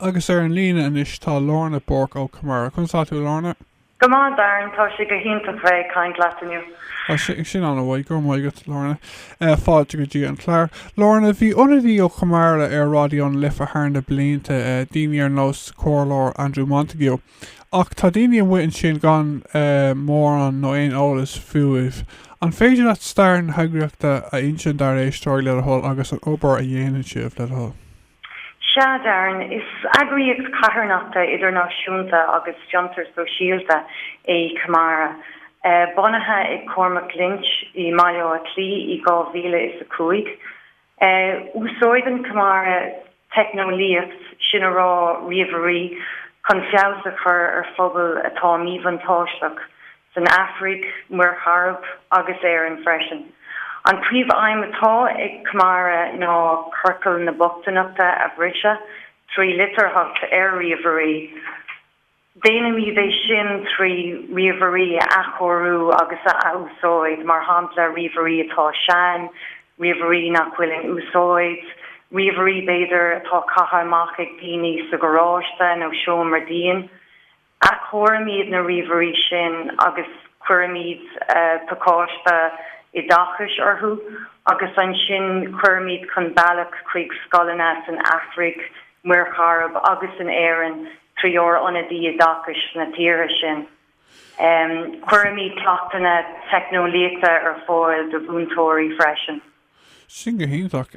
Agus ar an líne anois tá Lorna Bourke ó Camara. Conas atá tú, Lorna? Go maith, Darren. Tá sé go hiontach bheith ag caint leat inniu. Tá sé sin an-mhaith. Go raibh maith agat, Lorna. Fáilte go dtí an clár. Lorna, bhí ionadaí ó Chamara ar Raidió na Life thar na blianta, daoine ar nós Comhairleoir Andrew Montague. Ach tá daoine amuigh ansin gan mórán nó aon eolas fúibh. An féidir leat stair na heagraíochta a insint dár éisteoirí, le do thoil, agus an obair a dhéanann sibh, le do thoil? Sea, Darren. Is eagraíocht carthanachta idirnáisiúnta agus fiontar sóisialta é Camara, bunaithe ag Cormac Lynch i mBaile Átha Cliath i 2005. Úsáideann Camara teicneolaíocht, sin a rá ríomhairí, chun feabhas a chur ar phobail atá míbhuntáisteach san Afraic, Muir Chairib agus Éirinn freisin. An príomhaidhm atá ag Camara ná ciorcal na bochtaineachta a bhriseadh trí litearthacht ar ríomhairí. Déanaimid é sin trí ríomhairí a athchóiriú agus a athúsáid, mar shampla ríomhairí atá sean, ríomhairí nach bhfuil in úsáid, ríomhairí, b'fhéidir, atá caithe amach ag daoine sa garáiste nó seomra dín. Athchóirimid na ríomhairí sin agus cuirimid pacáiste oideachais orthu agus ansin cuirimid chun bealaigh chuig scoileanna san Afraic, Muir Chairib agus in Éirinn trí ár n-ionaid oideachais sna tíortha sin. Cuirimid cleachtanna teicneolaíochta ar fáil do mhúinteoirí freisin. Sin go hiontach.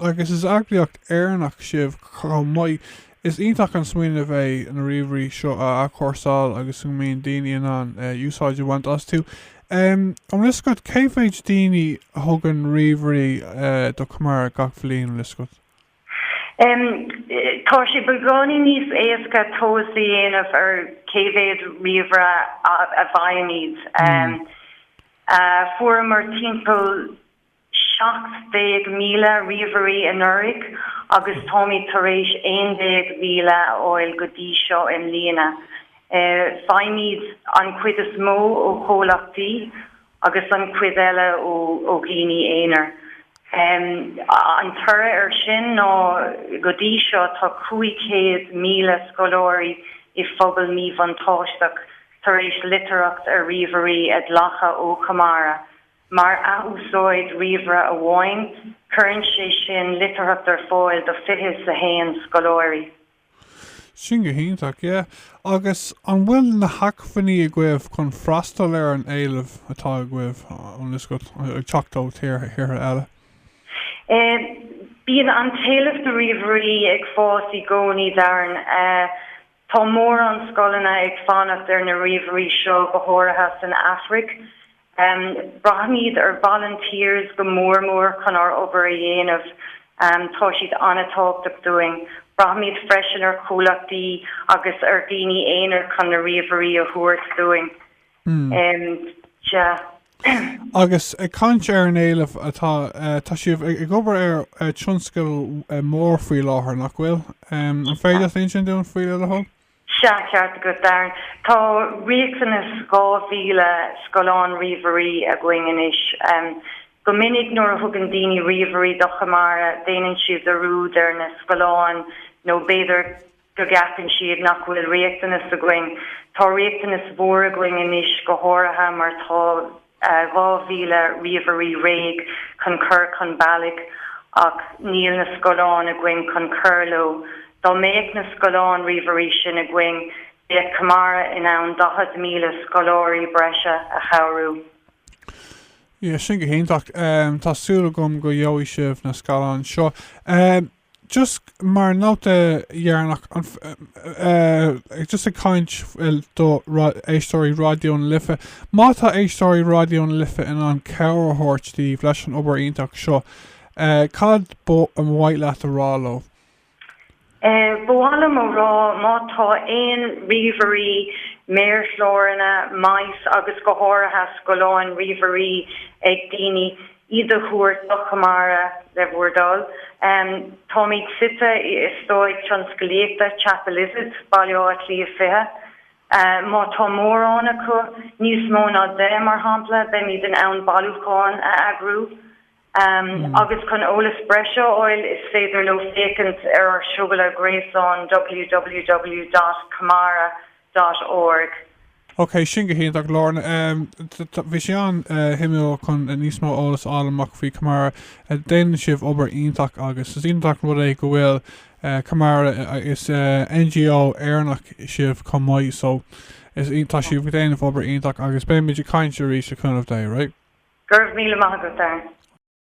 Agus is eagraíocht Éireannach sibh chomh maith. Is iontach an smaoineamh é na ríomhairí seo a athchúrsáil agus a mbíonn daoine in ann úsáid a bhaint astu. An bhfuil a fhios agat, cé mhéid daoine a thugann ríomhairí do Chamara gach bhliain, an bhfuil a fhios agat? Tá sé beagáinín níos éasca tomhas a dhéanamh ar cé mhéad ríomhaire a bhfaighimid. Fuaireamar timpeall 17,000 ríomhairí anuraidh agus táimid tar éis 11,000 a fháil go dtí seo i mbliana. Faighimid an chuid is mó ó chomhlachtaí agus an chuid eile ó dhaoine aonair. An toradh air sin ná go dtí seo tá 500,000 scoláirí i phobal míbhuntáisteach tar éis litearthacht ar ríomhairí a ghlacadh ó Chamara. Mar athúsáid ríomhaire amháin, cuireann sé sin litearthacht ar fáil do fiche 's a haon scoláirí. Sin go hiontach, yeah. Agus an bhfuil na hacmhainní agaibh chun freastal ar an éileamh atá agaibh, tá a fhios agat, ag teacht ó thíortha eile? Eh, bíonn an t-éileamh do ríomhairí ag fás i gcónaí, Darren. Eh, tá mórán scoileanna ag fanacht ar na ríomhairí seo, go háirithe san Afraic. Braithimid ar volunteers go mór mór chun ár obair a dhéanamh. Tá siad an-tábhachtach dúinn. Braithimid freisin ar chomhlachtaí agus ar dhaoine aonair chun na ríomhairí a thabhairt dúinn. Agus ag caint ar an éileamh atá, tá sibh ag obair ar tionscadal mór faoi láthair, nach bhfuil? An féidir leat insint dúinn faoi, le do thoil? Sea, ceart agat, Darren. Tá riachtanas 2,000 scáileán ríomhairí againn anois. Go minic nuair a thugann daoine ríomhairí do Chamara, déanann siad dearúd ar na scáileáin nó b'fhéidir go gceapann siad nach bhfuil riachtanas againn. Tá riachtanas mhór againn anois, go háirithe mar tá. 2,000 ríomhairí réidh chun cur chun bealaigh ach níl na scáileáin againn chun cur leo. Dá mbeadh na scáileáin ríomhairí sin againn, bheadh Camara in ann 40,000 scoláirí breise a chabhrú. Yeah, sin go hiontach. Tá súil agam go gheobhaidh sibh na scáileáin seo. just mar nóta dheireanach, an, eh, just ag caint do éisteoirí Raidió na Life, má tá éisteoirí Raidió na Life in ann cabhair a thabhairt daoibh leis an obair iontach seo, eh, cad ba mhaith leat a rá leo? Eh, ba mhaith liom a rá, má tá aon ríomhairí, méarchláranna, mice agus go háirithe scáileáin ríomhairí ag daoine, iad a thabhairt do Chamara le bhur dtoil. Táimid suite in Eastát Tionsclaíochta Chapelizod, Baile Átha Cliath 20. Má tá mórán acu, níos mó ná 10 mar shampla, beimid in ann bailiúcháin a eagrú. Agus chun eolas breise a fháil is féidir leo féachaint ar ár suíomh gréasáin www.camara. dot org. Ok, sin go hiontach, Lorna. Bhí sé an-shuimiúil chun níos mó eolas a fháil amach faoi Camara. Déanann sibh obair iontach agus is iontach an rud é go bhfuil Camara, is NGO Éireannach sibh chomh maith, so tá sibh ag déanamh obair iontach agus beimid ag caint arís le cúnamh Dé, right? Go raibh míle maith agat, Darren.